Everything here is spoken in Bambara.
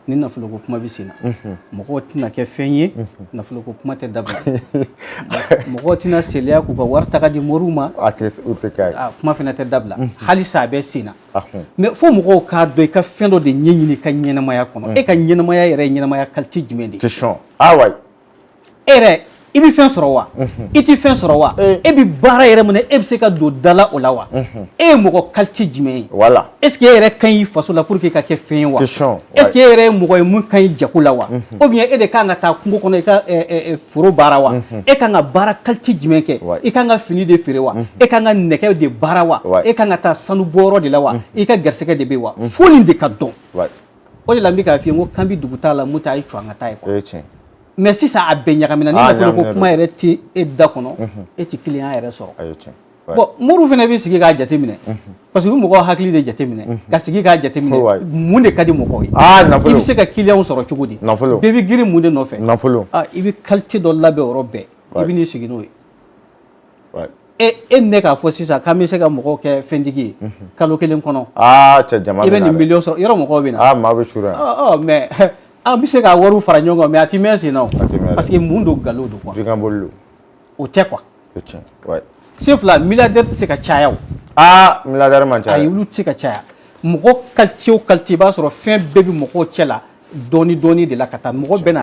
ni nafoloko kuma bɛ sen na mɔgɔw tɛna kɛ fɛn ye nafoloko kuma tɛ dabila mɔgɔw tɛna seliya k'u ka wari ta k'a di moriw ma kuma fana tɛ dabila halisa a bɛ sen na mais fo mɔgɔw k'a dɔn i ka fɛn dɔ de ɲɛɲini i ka ɲɛnamaya kɔnɔ e ka ɲɛnamaya yɛrɛ ɲɛnamaya kalite jumɛn de ye e yɛrɛ i bɛ fɛn sɔrɔ wa i tɛ fɛn sɔrɔ wa e bɛ baara yɛrɛ min na e bɛ se ka don dala o la wa e ye mɔgɔ kalite jumɛn ye voilà est ce que e yɛrɛ ka ɲi faso la pour que i ka kɛ fɛn ye wa est ce que e yɛrɛ ye mɔgɔ ye min ka ɲi jago la wa ou bien e de kan ka taa kungo kɔnɔ i ka foro baara wa e kan ka baara kalite jumɛn kɛ i kan ka fini de feere wa e kan ka nɛgɛ de baara wa e kan ka taa sanu bɔyɔrɔ de la wa i ka garisɛgɛ de bɛ wa fo nin de ka dɔn o de la n bɛ k'a f'i ye n ko k'an bɛ dugu t'a la mun t'a ye cɔ an ka taa ye o ye tiɲɛ mais sisan a bɛɛ ɲagamina ni nafoloko kuma yɛrɛ tɛ e da kɔnɔ e tɛ kiliyan yɛrɛ sɔrɔ o ye tiɲɛ bon moriw fana bɛ sigi k'a jateminɛ parce que u bɛ mɔgɔw hakili de jateminɛ ka sigi k'a jateminɛ mun de ka di mɔgɔw ye i bɛ se ka kiliyanw sɔrɔ cogo di nafolo bɛɛ bɛ girin mun de nɔfɛ nafolo i bɛ kalite dɔ labɛn yɔrɔ bɛɛ i bɛ n'i sigi n'o ye e e ne k'a fɔ sisan k'an bɛ se ka mɔgɔw kɛ fɛntigi ye kalo kelen kɔnɔ cɛ jama i bɛ nin miliyɔn sɔrɔ yɔrɔ mɔgɔw bɛ na maa bɛ suuru yan mais an bɛ se ka wariw fara ɲɔgɔn kan mais a tɛ mɛn sen na parce que mun don nkalon don quoi jikaboli don o tɛ quoi o tiɲɛ wayi sen fila miliyardɛri tɛ se ka caya o aa miliyardɛri man ca ayi olu tɛ se ka caya mɔgɔ kalite o kalite i b'a sɔrɔ fɛn bɛɛ bɛ mɔgɔw cɛ la dɔɔni dɔɔni de la ka taa mɔgɔ bɛɛ na